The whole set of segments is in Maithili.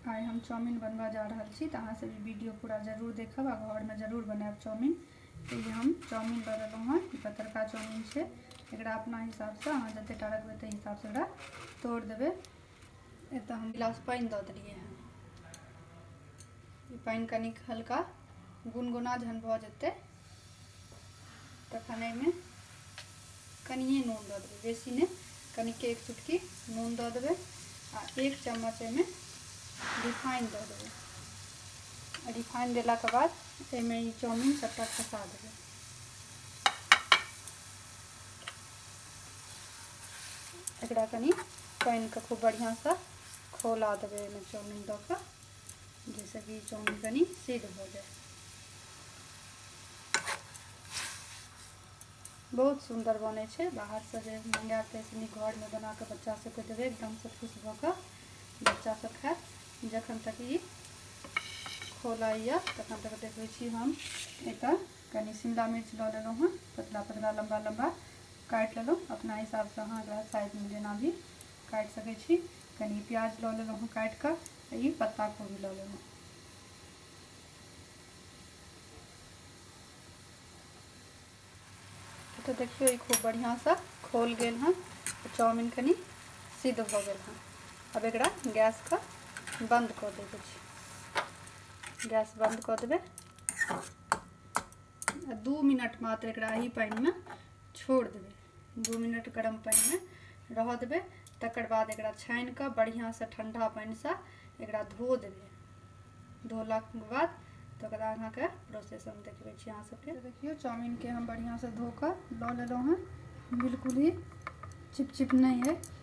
आइ हम चाउमिन बनबऽ जा रहल छी तऽ अहाँसभ ई वीडियो पूरा जरूर देखब आ घरमे जरूर बनायब चाउमिन तऽ ई हम चाउमिन लऽ लेलहुँ हँ ई पतरका चाउमिन छै एकरा अपना हिसाबसँ अहाँ जतेक टा रखबै ताहि हिसाबसँ एकरा तोड़ि देबै एतऽ हम गिलास पानि दऽ देलियै हँ ई पानि कनिक हल्का गुनगुना जहन भऽ जेतै तखन एहिमे कनिए नून दऽ देबै बेसी नहि कनिके एक चुटकी नून दऽ देबै आ एक चम्मच एहिमे रिफाइन दऽ देबै रिफाइन देलाके बाद एहिमे ई चाउमिन सभटा खसा देबै एकरा कनि पानिके खूब बढ़िआँसँ खौला देबै एहिमे चाउमिन दऽ कऽ जैसे कि चाउमिन कनी सिद्ध हो जाए बहुत सुंदर बने छे बाहर से जे मंगा के ऐसे घर में बना के बच्चा सब के देवे एकदम से खुश भ के बच्चा सब खाए जखन तक ई खोला या तखन तक देखे छी हम एक कनी शिमला मिर्च ल लेलो हन पतला पतला लंबा लंबा काट लेलो अपना हिसाब से अहाँ साइज में जेना भी काटि सकै छी कनि प्याज लऽ लेलहुँ हँ काटि कऽ आ ई पत्ता कोबी लऽ लेलहुँ तऽ देखियौ ई खूब बढ़िआँसँ खोल गेल हँ चाउमिन कनि सिद्ध भऽ गेल हँ अब एक गैस का बंद कर देवे गैस बंद कर देवे आ दू मिनट मात्र एकरा एही पानिमे छोड़ि देबै दू मिनट गरम पानिमे रहऽ देबै तकर बाद एकरा छानि कऽ बढ़िआँसँ ठण्डा पानिसँ एकरा धो देबै धोलाके बाद तऽ ओकरा अहाँके प्रोसेस हम देखबै छी अहाँ सबके देखियौ चाउमिनके हम बढ़िआँसँ धो कऽ लऽ लेलहुँ हँ बिलकुल ही चिपचिप नहि अइ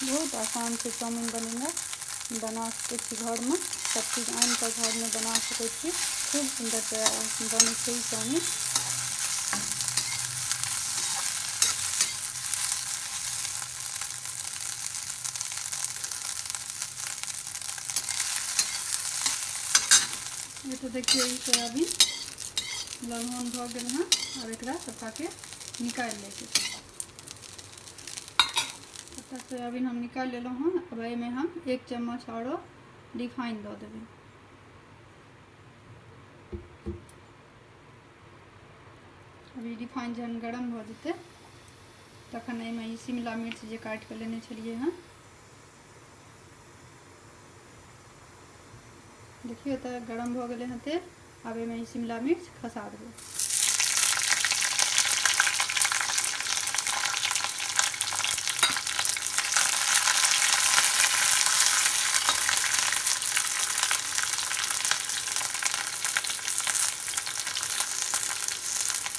बहुत आसान छै चाउमिन बनेनाइ बना सकै छी घरमे सभचीज आनि कऽ घरमे बना सकै छी खूब सुन्दर बनै छै ई चाउमिन ये तो देखिए ई सोयाबीन ललहन भऽ गेल हँ आब एकरा सफाके निकालि लैके छै सभटा सोयाबीन हम निकालि लेलहुँ हँ अब एहिमे हम एक चम्मच आओरो रिफाइन दऽ देबै अभी रिफाइन जहन गरम भऽ जेतै तखन एहिमे ई शिमला मिर्च जे काटि कऽ लेने छलियै हँ देखियौ तऽ गरम भऽ गेलै हँ तेल आब एहिमे ई शिमला मिर्च खसा देबै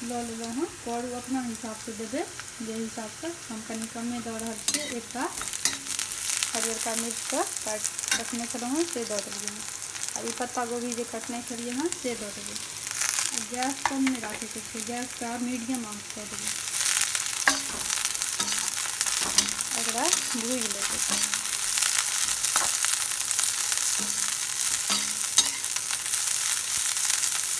लऽ लेलहुँ हँ करू अपना हिसाबसँ देबै जे हिसाबसँ हम कनि कमे दऽ रहल छियै एकटा हरियरका मिर्चके काटि रखने छलहुँ हँ से दऽ देलियै हँ आ ई पत्ता गोभी जे कटने छलियै हँ से दऽ देबै आ गैस कम नहि राखैके छै गैसके मीडियम आँच कऽ देबै एकरा भूजि लैके छै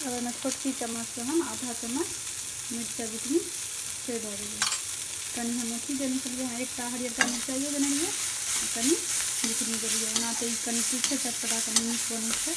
अब एहिमे छोटकी चम्मचसँ हम आधा चम्मच मिरचाइ बुकनी से दऽ देलियै कनि हम अथी देने छलियै हँ एकटा हरियरका मिरचाइयो देने रहियै आ कनि बुकनी देलियै ओना तऽ ई कनि तीखे चटपटा कनि नीक बनै छै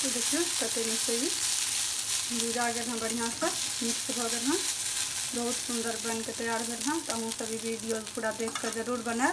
तो देखियो कते नीक से भूजा गल हाँ बढ़िया से मिक्स भ गल हाँ बहुत सुंदर बन के तैयार भेल हाँ तो अहूँ सब वीडियो पूरा देख के जरूर बनाए